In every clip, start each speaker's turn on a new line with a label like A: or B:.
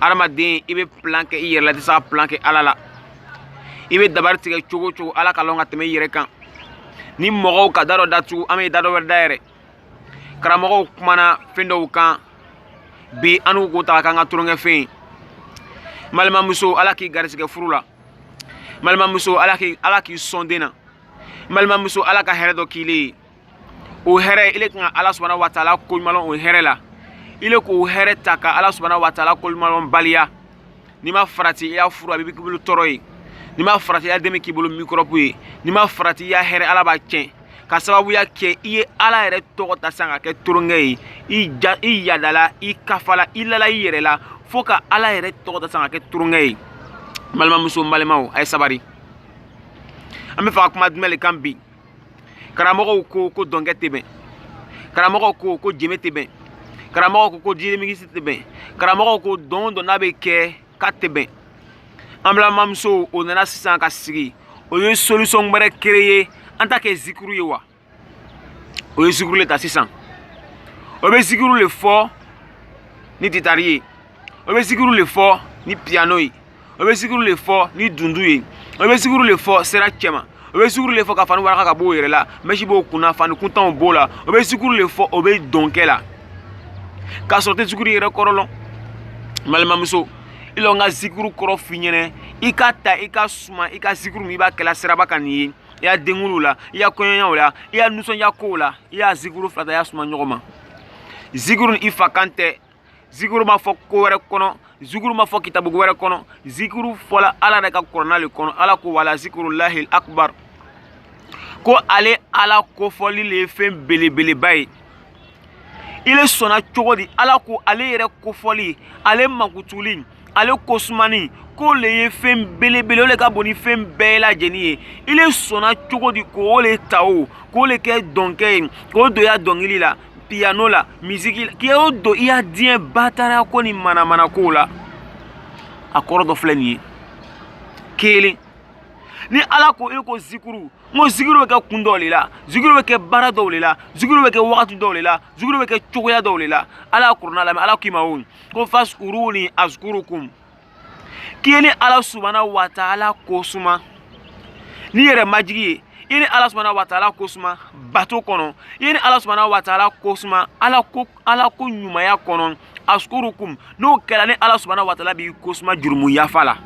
A: adamaden i bɛ plan kɛ i yɛrɛ la i tɛ se ka plan kɛ ala la i bɛ dabari tigɛ cogo cogo ala ka lɔn ka tɛmɛ i yɛrɛ kan ni mɔgɔw ka da dɔ datugu an bɛ da dɔ wɛrɛ dayɛlɛ karamɔgɔw kumana fɛn dɔw kan bi an n'u ko ta k'an ka tulonkɛfɛn ye n balimamuso ala k'i garisigɛ furu la n balimamuso ala k'i ala k'i sɔn den na n balimamuso ala ka hɛrɛ dɔ k'i le ye o hɛrɛ ile kan ka ala subahana wa taala koɲumanlɔn o hɛrɛ la ile k'o hɛrɛ ta ka ala subahana wa taala koɲumanlɔn baliya n'i ma farati i ya furu a bɛ k'i bolo tɔɔrɔ ye n'i ma farati i ya den bɛ k'i bolo mikɔrɔbu ye n'i ma farati i ya hɛrɛ ala b'a tiɲɛ ka sababuya kɛ i ye ala yɛrɛ tɔgɔ ta san ka kɛ tulonkɛ ye i ja i yadala i kafala i lala i yɛrɛ la fo ka ala yɛrɛ tɔgɔ ta san ka kɛ tulonkɛ ye balimamuso n balimaw a ye sabari an b'a fɛ ka kuma jumɛn de kan bi karamɔgɔw ko ko dɔnkɛ tɛ bɛn karamɔgɔw ko ko jenbe tɛ bɛn karamɔgɔw ko ko DJ remix tɛ bɛn karamɔgɔw ko dɔn o dɔn n'an bɛ kɛ k'a tɛ bɛn an balimamusow o nana sisan ka sigi o ye solution wɛrɛ créer an t'a kɛ zikuru ye wa o ye zikuru le ta sisan o bɛ zikuru le fɔ ni gitari ye o bɛ zikuru le fɔ ni piano ye o bɛ zikuru le fɔ ni dundu ye o bɛ zikuru le fɔ sira cɛma o bɛ zikuru le fɔ ka fani waraka ka bɔ o yɛrɛ la mɛsi b'o kunna fani kuntanw b'o la o bɛ zikuru le fɔ o bɛ dɔnkɛ la k'a sɔrɔ tɛ zikuru yɛrɛ kɔrɔ lɔn n balimamuso i lɔ n ka zikuru kɔrɔ f'i ɲɛnɛ i k'a ta i k'a suma i ka zikuru min i b'a kɛla siraba kan nin ye i ya denkunliw la i ya kɔɲɔyaw la i ya nisɔndiya kow la i y'a zikuru fila ta i y'a suma ɲɔgɔn ma zikuru nin i fa kan tɛ zikuru ma fɔ ko wɛrɛ kɔnɔ zikuru ma fɔ kitabu wɛrɛ kɔnɔ zikuru fɔla ala de ka kɔrɔna le kɔnɔ ala ko wala zikuru lahil akbar ko ale ala kofɔli le ye fɛn belebeleba ye ile sɔnna cogo di ala ko ale yɛrɛ kofɔli ale mankutuli ale ko sumani k'o le ye fɛn belebele o le ka bon ni fɛn bɛɛ lajɛlen ye i le sɔnna cogo di k'o le ta o k'o le kɛ dɔnkɛ ye k'o don i ya dɔnkili la piyano la misiki la k'o don i ya diɲɛ bataraya ko ni manamana kow la a kɔrɔ dɔ filɛ nin ye kelen ne ala ko e ko zikuru n ko zikuru bɛ kɛ kun dɔw le la zikuru bɛ kɛ baara dɔw le la zikuru bɛ kɛ wagati dɔw le la zikuru bɛ kɛ cogoya dɔw le la ala ya kurana lamɛn ala k'i ma o ko fazkuruni azkurukum k'i ye ne ala subana wa taala ko suma n'i yɛrɛ majigi ye i ye ne ala subana wa taala ko suma bato kɔnɔ i ye ne ala subana wa taala ko suma ala ko ala ko ɲumanya kɔnɔ azkurukum n'o kɛra ne ala subana wa taala b'i ko suma jurumu yafa la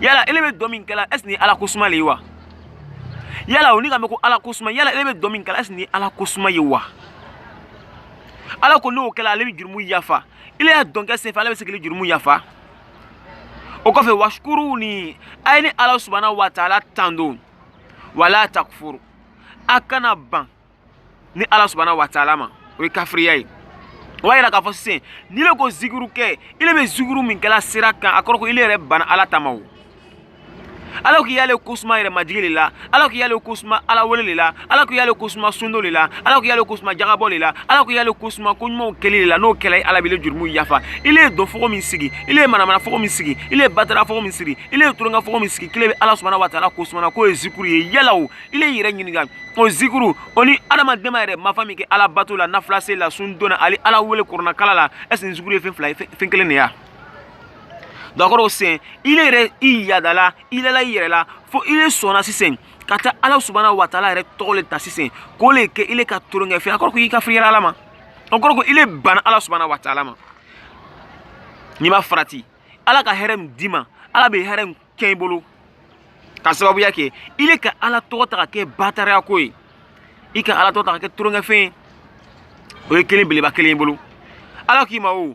A: yala ele bɛ dɔn min kɛla est-ce que ne ala ko suma le ye wa yala o ni ka mɛ ko ala ko suma yala ele bɛ dɔn min kɛla est-ce que ne ala ko suma ye wa ala ko n'o kɛla ale bɛ jurumu yafa ile ya dɔnkɛ senfɛ ala bɛ se k'ile jurumu yafa o kɔfɛ wasukuru li a ye ne ala subahana wa taala tando wala takufuru a kana ban ne ala subahana wa taala ma o ye kafiriya ye o b'a yira k'a fɔ sisan n'i le ko zikiru kɛ ile bɛ zikiru min kɛla sira kan a kɔrɔ ko ile yɛrɛ banna ala ta ma o ala k'i y'ale ko suma yɛrɛ majigi de la ala k'i y'ale ko suma ala wele de la ala k'i y'ale ko suma sundon de la ala k'i y'ale ko suma jakabɔ de la ala k'i y'ale ko suma ko ɲumanw kɛli de la n'o kɛla ala b'i le jurumu yafa ile ye dɔnfogo min sigi ile ye manamanafogo min sigi ile ye batarafogo min sigi ile ye toronkɛfogo min sigi k'ile bɛ ala subahana wa taala ko sumana k'o ye zikuru ye yala o ile y'i yɛrɛ ɲininka o zikuru o ni adamaden b'a yɛrɛ mafa min kɛ ala bato la nafila seli la sundon na ani ala wele kurana kalan la ɛseke nin zikuru ye fɛn fila ye fɛn kelen de ya o kɔrɔ sisan i le yɛrɛ i yadala i lala i yɛrɛ la fo i le sɔnna sisan ka taa ala subahana wa taala yɛrɛ tɔgɔ le ta sisan k'o le kɛ i le ka tolonkɛfɛn a kɔrɔ ko i kafiriyara ala ma o kɔrɔ ko i le banna ala subahana wa taala ma n'i ma farati ala ka hɛrɛ min d'i ma ala bɛ hɛrɛ nin cɛn i bolo k'a sababuya kɛ i le ka ala tɔgɔ ta ka kɛ bataraya ko ye i ka ala tɔgɔ ta ka kɛ tolonkɛfɛn ye o ye kelen beleba kelen i bolo ala k'i ma o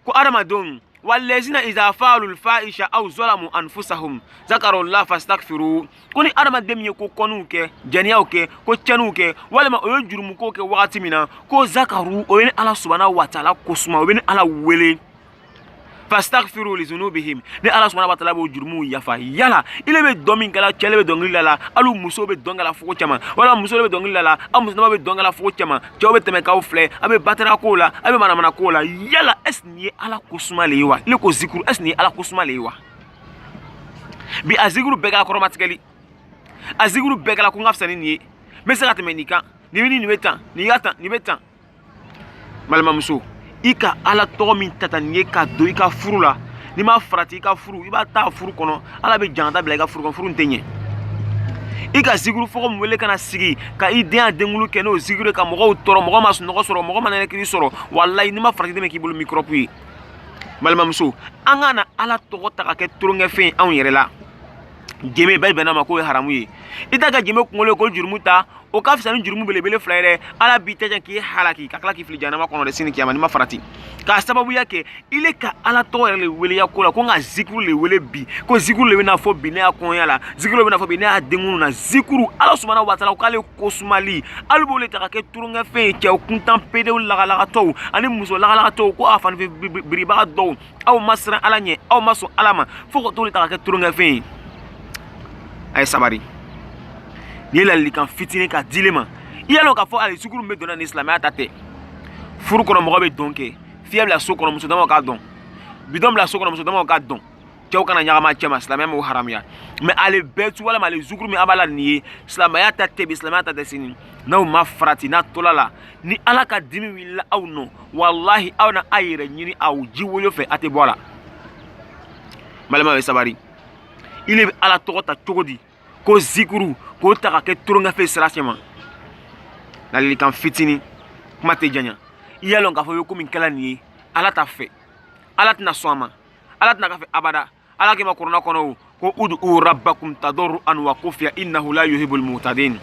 A: ko adamadenw walezina iza faalu fahisha aw zalamu anfusahum zakarullah fastaghfiru ko ni adamaden min ye ko kɔniw kɛ jɛniyaw kɛ ko cɛniw kɛ walima o ye jurumuko kɛ wagati min na ko zakaru o bɛ ne ala subahana wataala ko suma o bɛ ne ala wele fastaghfiru li zunubihim ne ala subahana wataala b'o jurumuw yafa yala ile bɛ dɔn min kɛla cɛ le bɛ dɔnkili la la hali muso bɛ dɔn kɛla fogo cɛma walima muso bɛ dɔnkili la la aw musolama bɛ dɔn kɛla fogo cɛma cɛw bɛ tɛmɛ k'aw filɛ a bɛ batara ko la a bɛ manamana ko la yala ɛs nin ye ala ko suma le ye wa ile ko zikuru ɛs nin ye ala ko suma le ye wa bi a zikuru bɛɛ kɛra kɔrɔmatigɛli a zikuru bɛɛ kɛra ko n ka fisa ni nin ye n bɛ se ka tɛmɛ nin kan nin bɛ nin nin bɛ tan nin ka tan nin bɛ tan balimamuso i ka ala tɔgɔ min ta tan nin ye ka don i ka furu la n'i ma farati i ka furu i ba taa furu kɔnɔ ala bɛ jangata bila i ka furu kɔnɔ furu in tɛ ɲɛ i ka zikuru fogo min wele ka na sigi ka i den ya denkunli kɛ n'o zikuru ka mɔgɔw tɔɔrɔ mɔgɔ ma sunɔgɔ sɔrɔ mɔgɔ ma nɛnɛkiri sɔrɔ walayi n'i ma farati den bɛ k'i bolo mikɔrɔbu ye balimamuso an kana ala tɔgɔ ta ka kɛ toronkɛfɛn ye anw yɛrɛ la jenbe bɛɛ bɛnna a ma k'o ye haramu ye i taa ka jenbe kunkolo ye ko jurumu ta o ka fisa ni jurumu belebele fila ye dɛ ala b'i tiɲɛ k'i halaki ka tila k'i fili janama kɔnɔ dɛ sini kiyama n'i ma farati k'a sababuya kɛ i le ka ala tɔgɔ yɛrɛ le weleya ko la ko n ka zikuru le wele bi ko zikuru le bɛna fɔ bi ne ya kɔɲɔya la zikuru le bɛna fɔ bi ne ya denkunli na zikuru ala subahana wataala o k'ale ko sumali alu b'o le ta ka kɛ toronkɛfɛn ye cɛ kuntan pedew lagalagatɔw ani muso lagalagatɔw ko a fanifin biribaga dɔw aw ma siran ala ɲɛ aw ma sɔn ala ma fo k'a tɔgɔ le ta ka kɛ tulonkɛfɛn ye a ye sabari nin ye ladilikan fitinin k'a di ile ma i y'a dɔn k'a fɔ ale zikuru min bɛ don na nin silamɛya ta tɛ furu kɔnɔ mɔgɔ bɛ dɔn kɛ filen bila so kɔnɔ muso damaw k'a dɔn bidɔn bila so kɔnɔ muso damaw k'a dɔn cɛw kana ɲagami a cɛma silamɛya m'o haramuya mɛ ale bɛɛ tu walima ale zikuru min a b'a la nin ye silamɛya ta tɛ bi silamɛya ta tɛ sini n'aw ma farati n'a tola la ni ala ka dimi wulila aw nɔ walahi aw na a yɛrɛ ɲini aw jiwoyo fɛ a tɛ bɔ a la balima bɛ sabari i le bɛ ala tɔgɔ ta cogo di ko zikuru k'o ta ka kɛ tulonkɛfɛn sira cɛma ladilikan fitini kuma tɛ janya i y'a lɔn k'a fɔ i bɛ ko min kɛla nin ye ala t'a fɛ ala tɛna sɔn a ma ala tɛna k'a fɛ abada ala kuma kurana kɔnɔ ko udu rabbakum tadaruan wa kufiya innahu la yuhibul mutadin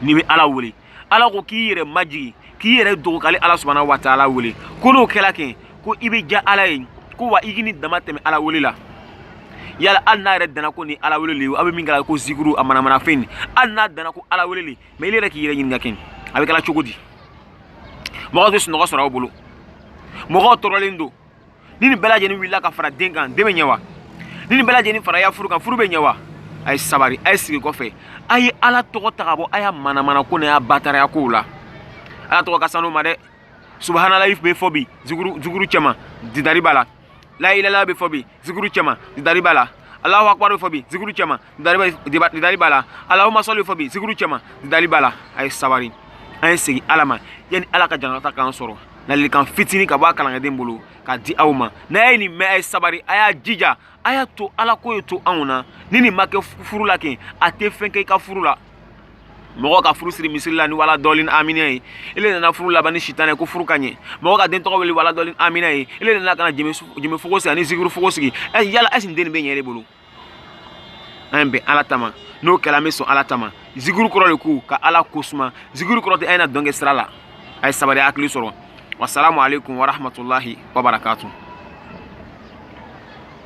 A: ni bɛ ala wele ala ko k'i yɛrɛ majigi k'i yɛrɛ dogo k'ale ala subahanahu wa taala wele ko n'o kɛla kɛ ko i bɛ diya ala ye ko wa i kana damatɛmɛ ala wele la yala hali n'a yɛrɛ danna ko nin ala wele le aw bɛ min kɛla ko zikuru a manamanafɛn nin hali n'a danna ko ala wele le mɛ i yɛrɛ k'i yɛrɛ ɲininka kɛ a bɛ kɛla cogo di mɔgɔ tɛ sunɔgɔ sɔrɔ aw bolo mɔgɔw tɔɔrɔlen don ni nin bɛɛ lajɛlen wulila ka fara den kan den bɛ ɲɛ wa ni nin bɛɛ lajɛlen fara a ya furu kan furu bɛ ɲɛ wa a ye sabari a ye segin kɔfɛ a ye ala tɔgɔ ta ka bɔ a ya manamana ko n'a ya bataraya kow la ala tɔgɔ ka sanuman dɛ subahanalayi bɛ fɔ bi zikuru cɛma didari b'a la layilala bɛ fɔ bi zikuru cɛma didari b'a la alahu akbar bɛ fɔ bi zikuru cɛma didari b'a la alahuma sɔli fɔ bi zikuru cɛma didari b'a la a ye sabari an ye segin ala ma yanni ala ka jangata k'an sɔrɔ ladilikan fitini ka bɔ a kalanden bolo k'a di aw ma n'a ye nin mɛn a ye sabari a y'a jija a y'a to ala ko ye to anw na ni nin ma kɛ furu la kɛ a tɛ fɛn kɛ i ka furu la mɔgɔ ka furu siri misiri la ni wala dɔɔlin amina ye ele nana furu laban ni sitanɛ ye ko furu ka ɲɛ mɔgɔ ka den tɔgɔ wele wala dɔɔlin amina ye ele nana ka na jeme fogo sigi ani zikuru fogo sigi yala ɛsi nin den nin bɛ ɲɛ de bolo an ye bɛn ala ta ma n'o kɛla an bɛ sɔn ala ta ma zikuru kɔrɔ le ko ka ala ko suma zikuru kɔrɔ tɛ a ye na dɔn kɛ sira la a ye sabari hakili sɔrɔ wasalamu aleykum warahmatulahi wabarakatu